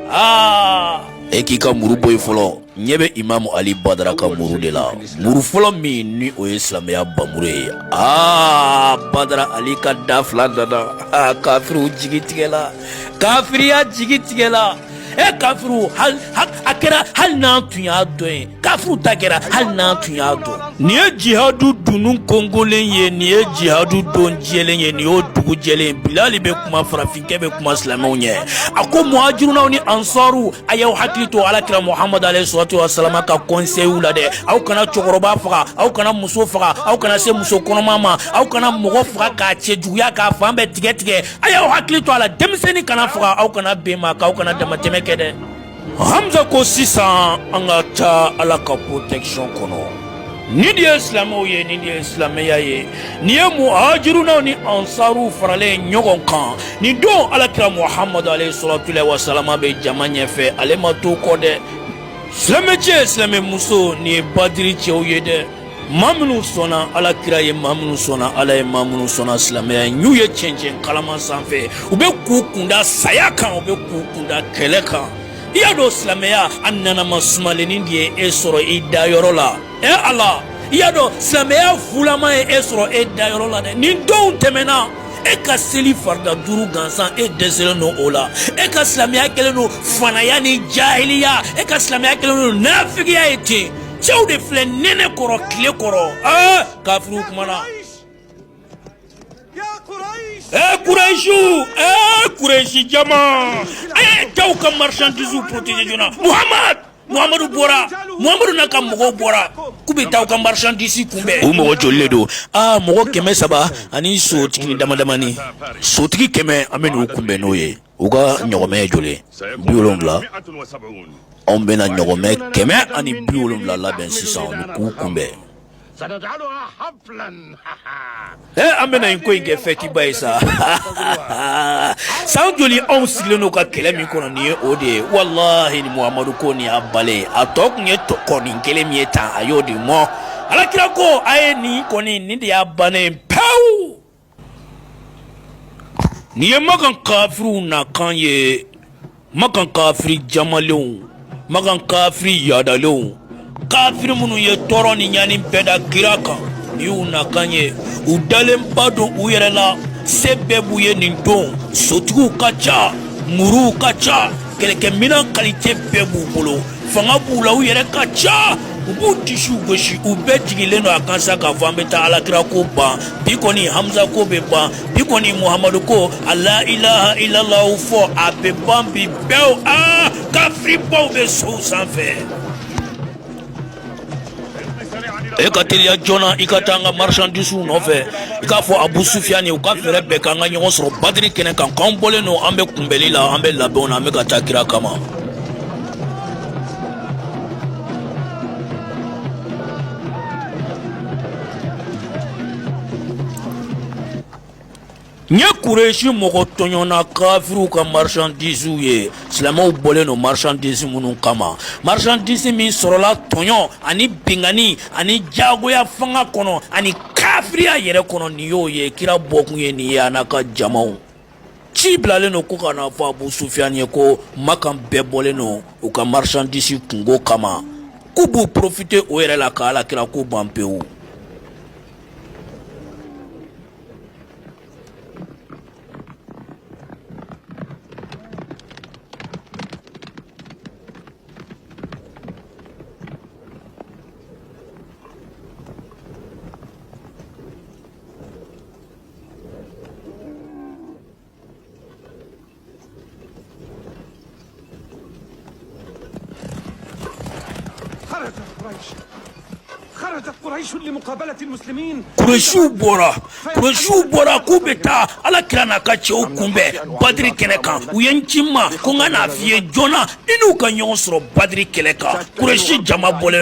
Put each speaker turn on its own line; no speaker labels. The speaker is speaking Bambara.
aa e k'i ka muru bɔ i fɔlɔ ɲɛ bɛ imamu ali badara ka muru de la muru fɔlɔ min ni o ye silamɛya bamuru ye aa badara ali ka da fila nana aa kafiriw jigitigɛla kafiriya jigitigɛla e kafiriw ta kɛra hali n'an tun y'a dɔn e kafiriw ta kɛra hali n'an tun y'a dɔn nin ye jihadu dunun kɔnkɔnlen ye nin ye jihadu don jɛlen ye nin y'o dugu jɛlen ye bilali bɛ kuma farafin kɛ bɛ kuma silamɛw ɲɛ a ko muhajirunaw ni ansaru a y'aw hakili to alakira muhamadu alayhi salatu wasalama ka kɔnseyiw la dɛ aw kana cɛkɔrɔba faga aw kana muso faga aw kana se muso kɔnɔma ma aw kana mɔgɔ faga k'a cɛjuguya k'a fan bɛɛ tigɛ tigɛ a y'aw hakili to a la denmisɛnnin kana faga aw kana bin maa kan aw kana damatɛmɛ kɛ dɛ hamuza ko sisan an ka taa ala ka protection kɔnɔ nin de ye silamɛw ye nin de ye silamɛya ye nin ye muhajirunaw ni ansaruw faralen ɲɔgɔn kan nin don alakira muhamadu alayhi salatulayi wasalama bɛ jama ɲɛfɛ ale ma to kɔ dɛ silamɛcɛ silamɛmuso nin ye badiri cɛw ye dɛ ma minnu sɔnna ala kira ye ma minnu sɔnna ala ye ma minnu sɔnna silamɛya ye n'u ye cɛncɛn kalaman sanfɛ u bɛ k'u kun da saya kan u bɛ k'u kun da kɛlɛ kan i y'a dɔn silamɛya a nanama sumalennin de ye e sɔrɔ i dayɔrɔ la ɛ ala i y'a dɔn silamɛya fulama ye e sɔrɔ e dayɔrɔ la dɛ nin donw tɛmɛna e ka seli farida duuru gansan e dɛsɛlen don o la e ka silamɛya kɛlen don fanaya ni jahiliya e ka silamɛya kɛlen don nafigiya ye ten cɛw de filɛ nɛnɛ kɔrɔ tile kɔrɔ aa kafiriw kumana ee kurɛsiw ee kurɛsi jama a ye cɛw ka marchandise protéger joona muhamad muhamadu bɔra muhamadu n'a ka mɔgɔw bɔra k'u bɛ taa u ka marchandise kunbɛn u mɔgɔ jolilen don aa mɔgɔ kɛmɛ saba ani sotigi damadamani sotigi kɛmɛ an bɛn'u kunbɛn n'o ye u ka ɲɔgɔmɛ ye joli bi wolonwula anw bɛna ɲɔgɔmɛ kɛmɛ ani bi wolonwula labɛn sisan k'u kunbɛn an bɛna in ko in kɛ fɛtiba ye sa san joli anw sigilen don ka kɛlɛ min kɔnɔ nin ye o de ye walayi muhamadu ko ni a bannen a tɔ tun ye konin kelen min ye tan a y'o di an ma alakira ko a ye nin kɔni nin de y'a bannen pewu Nin ye makan kafiriw na kan ye makan kafiri jamalenw makan kafiri yaadalenw kafiri minnu ye tɔɔrɔ ni ɲani bɛɛ da kira kan nin y'u na kan ye u dalenba don u yɛrɛ la se bɛɛ b'u ye nin don sotigiw ka ca muruw ka ca kɛlɛkɛminɛn kalite bɛɛ b'u bolo fanga b'u la u yɛrɛ ka ca u b'u disiw gosi u bɛɛ jigilen don a kan sa k'a fɔ an bɛ taa alakira ko ban bi kɔni hamisa ko bɛ ban bi kɔni muhamadu ko a la ilaha ilalaw fɔ a bɛ ban bi pewu aa kafiribaw bɛ sow sanfɛ e ka teliya joona i ka taa an ka marchandisew nɔfɛ i k'a fɔ abu sufiyan ni u ka fɛɛrɛ bɛɛ k'an ka ɲɔgɔn sɔrɔ badiri kɛnɛ kan k'an bɔlen don an bɛ kunbɛli la an bɛ labɛnw na an bɛ ka taa kira kama N ye kuresi mɔgɔ tɔɲɔnna kafiriw ka marchandisew ye silamɛw bɔlen don marchandise minnu kama marchandise min sɔrɔla tɔɲɔn ani binkanni ani jagoya fanga kɔnɔ ani kafiriya yɛrɛ kɔnɔ nin y'o ye kira bɔkun ye nin ye a n'a ka jamaw ci bilalen don ko ka n'a fɔ abu sufiyan ye ko makan bɛɛ bɔlen don u ka marchandise kunko kama k'u b'u profite o yɛrɛ la ka ala kira ko ban pewu Kuresiw bɔra Kuresiw bɔra k'u bɛ taa Ala kira n'a ka cɛw kunbɛn Badiri kɛnɛ kan u ye n ci i ma ko n ka n'a f'i ye joona i n'u ka ɲɔgɔn sɔrɔ Badiri kɛnɛ kan Kuresi jama bɔlen